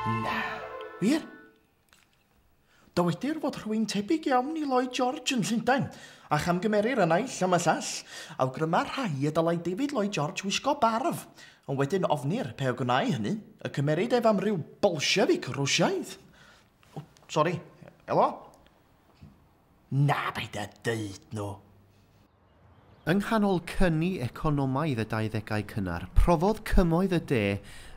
Na. Wir? Dywedir fod rhywun tebyg iawn i Lloyd George yn Llundain, a chamgymerir y naill am y llall. Awgryma rhai y dylai David Lloyd George wisgo barf, ond wedyn ofnir pe o gwnau hynny, y cymeryd ef am ryw Bolshefic Rwsiaidd. O, sori, elo? Na, paid â deud nhw! Yng nghanol cyni economaidd y dauddegau cynnar, profodd Cymoedd y De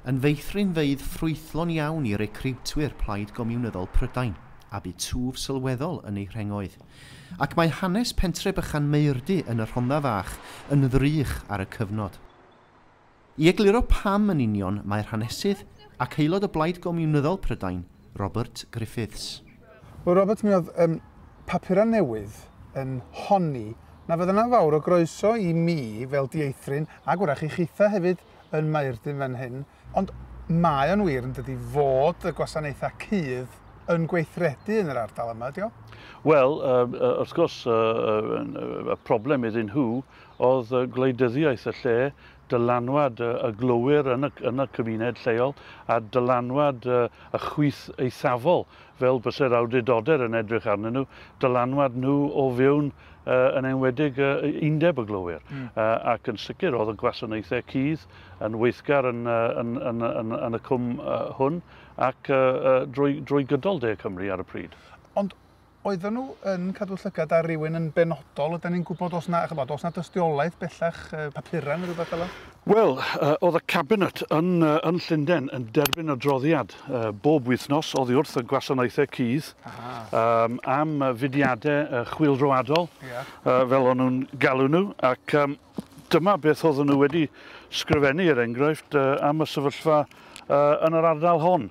yn feithrinfeydd ffrwythlon iawn i recriwtwyr Plaid Gomiwnyddol Prydain, a bu twf sylweddol yn eu rhengoedd. Ac mae hanes pentre bychan Maerdy yn y Rhondda Fach yn ddrych ar y cyfnod. I egluro pam yn union mae'r hanesydd ac aelod o Blaid Gomiwnyddol Prydain, Robert Griffiths. Wel Robert, mi oedd yym papurau newydd yn honni na fydd yna fawr o groeso i mi fel dieithryn, ac wrach i chitha hefyd yn Maerdyn fan hyn, ond mae o'n wir yndydi fod y gwasanaethau cudd yn gweithredu yn yr ardal yma, ydi o? Wel, yy yy wrth gwrs yy yy y problem iddyn nhw Oedd gwleidyddiaeth y lle, dylanwad y glowyr yn y yn y cymuned lleol a dylanwad y chwith eithafol, fel byse'r awdurdoder yn edrych arnyn nhw, dylanwad nhw o fewn, yn enwedig, undeb y glowyr. Ac yn sicr, oedd y gwasanaethau cudd yn weithgar yn yn yn yn yn y cwm hwn ac drwy drwy gydol De Cymru ar y pryd. Ond oedden nhw yn cadw llygad ar rywun yn benodol? Ydy ni'n gwybod os na, chybod, os na dystiolaeth bellach, papurau neu rhywbeth fel Wel, oedd y Cabinet yn, yn Llundain yn derbyn adroddiad bob wythnos oddi wrth y gwasanaethau cudd um, am fudiadau chwilroadol, yeah. fel o'n nhw'n galw nhw, ac um, dyma beth oedden nhw wedi sgrifennu, er enghraifft, am y sefyllfa yn yr ardal hon.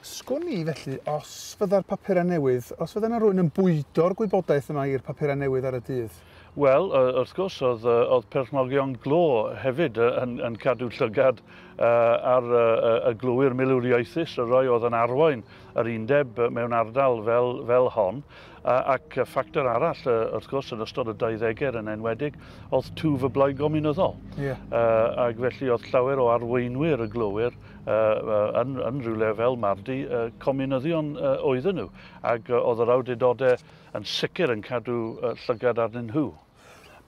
Sgwn i, felly, os fydda'r papurau newydd, os fydda 'na rywun yn bwydo'r gwybodaeth yma i'r papurau newydd ar y dydd? Wel, wrth gwrs, oedd, oedd perchnogion glo hefyd yn, yn cadw llygad ar y glowyr milwriaethus, y rhai oedd yn arwain yr undeb mewn ardal fel, fel hon. Ac ffactor arall, wrth gwrs, yn ystod y deuddegau yn enwedig, oedd twf y Blaid Gomiwnyddol. Yeah. Ac felly oedd llawer o arweinwyr y glowyr yn, yn rhywle fel Mardi, comunyddion oedden nhw, ac oedd yr awdurdodau yn sicr yn cadw llygad arnyn nhw.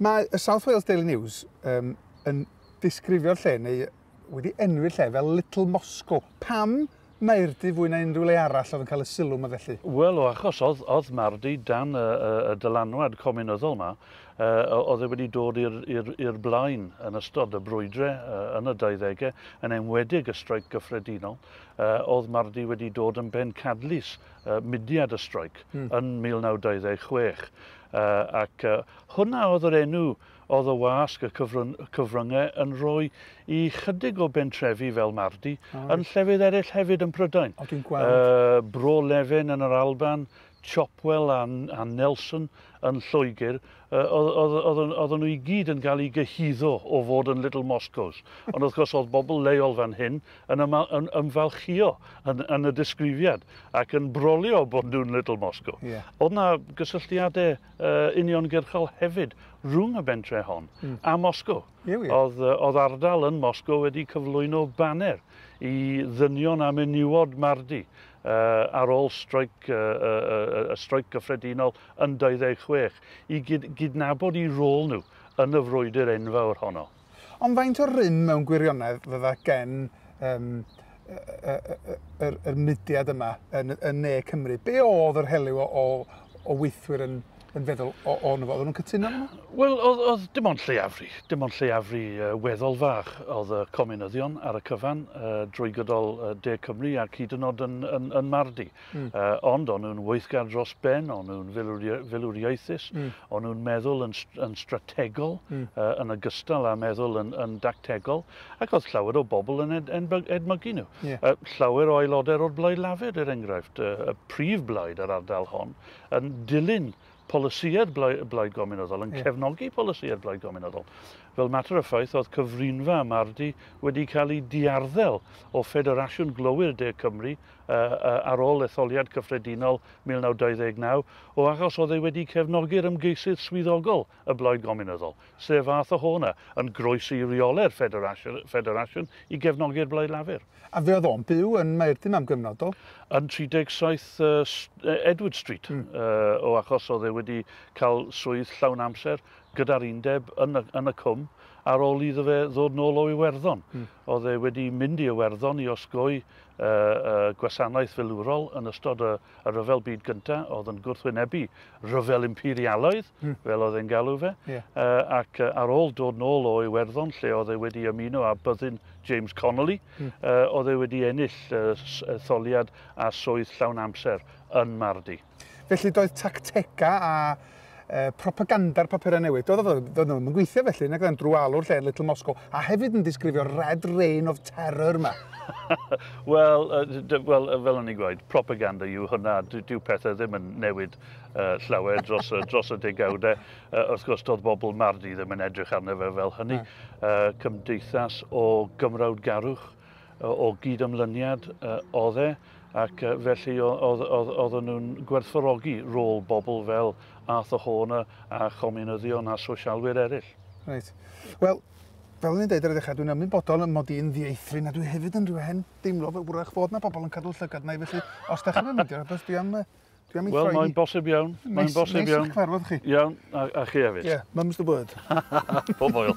Mae y South Wales Daily News um, yn disgrifio'r lle neu wedi enwi'r lle fel Little Moscow. Pam Maerdy fwy na unrhyw le arall oedd yn cael y sylw yma felly? Wel, o achos oedd, oedd Mardy dan y, y, y dylanwad comunyddol yma, oedd e wedi dod i'r blaen yn ystod y brwydre yn y dauddegau, yn enwedig y streic gyffredinol, oedd Mardi wedi dod yn bencadlys mudiad y streic hmm. yn 1926. ac hwnna oedd yr enw oedd y wasg y cyfryngau yn rhoi i chydig o bentrefi fel Mardi, yn llefydd eraill hefyd yn Prydain. O, dwi'n gweld. Uh, Bro Lefen yn yr Alban, Chopwell a Nelson yn Lloegr, oedden nhw i gyd yn cael eu gyhuddo o fod yn Little Moscows. Ond wrth gwrs oedd bobl leol fan hyn yn ymfalchïo yn y disgrifiad ac yn brolio bod nhw'n Little Moscow. Oedd 'na gysylltiadau uniongyrchol hefyd rhwng y bentre hon a Moscow. Oedd ardal yn Moscow wedi cyflwyno baner i ddynion a menywod Mardi ar ôl streic y Streic Gyffredinol yn 26 i gydnabod eu rôl nhw yn y frwydr enfawr honno. Ond faint o rym mewn gwirionedd fydda gen yr mudiad yma yn Ne Cymru? Be oedd yr helyw o weithwyr yn yn feddwl o, o'n fo. Oedden nhw'n cytuno efo nhw? Wel, oedd, oedd dim ond lleiafri. Dim ond lleiafri uh, weddol fach oedd y comunyddion ar y cyfan uh, drwy gydol uh, De Cymru ac hyd yn oed yn, yn, yn Mardi. Mm. Uh, ond o'n nhw'n weithgar dros ben, o'n nhw'n filwriaethus, mm. o'n nhw'n meddwl yn, yn strategol mm. uh, yn ogystal â meddwl yn, yn dactegol ac oedd llawer o bobl yn ed, edmygu nhw. Yeah. Uh, llawer o aelodau o'r Blaid Lafur, er enghraifft, uh, y prif blaid yr ardal hon, yn dilyn polisïed Blaid Gomiwnyddol, yn cefnogi polisïed Blaid Gomiwnyddol. Fel mater o ffaith, oedd cyfrinfa y Mardi wedi cael ei diarddel o Ffederasiwn Glowyr De Cymru ar ôl etholiad cyffredinol 1929, o achos oedd e wedi cefnogi'r ymgeisydd swyddogol y Blaid Gomiwnyddol, sef fath o hona, yn groesi i reole'r ffederasiwn i gefnogi'r Blaid Lafur. A fuodd o'n byw yn Maerdyn am gyfnod, do? Yn 37 Edward Street, o achos oedd e wedi cael swydd llawn amser gyda'r Undeb yn y Cwm ar ôl iddo fe ddod nôl o Iwerddon. Oedd e wedi mynd i Iwerddon i osgoi y gwasanaeth filwrol yn ystod y Rhyfel Byd Gyntaf oedd yn gwrthwynebu rhyfel imperialaidd, hmm. fel oedd e'n galw fe, ac ar ôl dod nôl o Iwerddon lle oedd e wedi ymuno â byddin James Connolly, hmm. oedd e wedi ennill etholiad a swydd llawn amser yn Mardi. Felly doedd tactegau a e, propaganda'r papurau newydd, doedd o ddim yn e gweithio felly, nag oedd e'n drwalwr lle Little Moscow, a hefyd yn disgrifio'r Red Rain of Terror yma. Wel, uh, well, uh, fel o'n i'n gweud, propaganda yw hwnna. Dyw pethau ddim yn newid uh, llawer dros, uh, dros y degawdau. Uh, wrth gwrs, doedd bobl Mardi ddim yn edrych arno fe fel hynny. Uh, cymdeithas o gymrawd garwch. o gyd-ymlyniad oedd e, ac felly oedden nhw'n gwerthfawrogi rôl bobl fel Arthur Horner a chomiwnyddion a sosialwyr eraill. Reit. Wel, fel o'n i'n dweud ar y ddechrau, dwi'n ymwybodol yn mod i'n ddieithryn na dwi hefyd yn rhywun deimlo fe wrach fod na pobl yn cadw llygad na i felly os da chi'n mynd i'r abyss dwi am Dwi am ei Wel, mae'n bosib iawn. Mae'n bosib iawn. Neis i'ch cyfarfod chi. Iawn, a, a chi hefyd. Ie, yeah, mum's the word. Pob oil.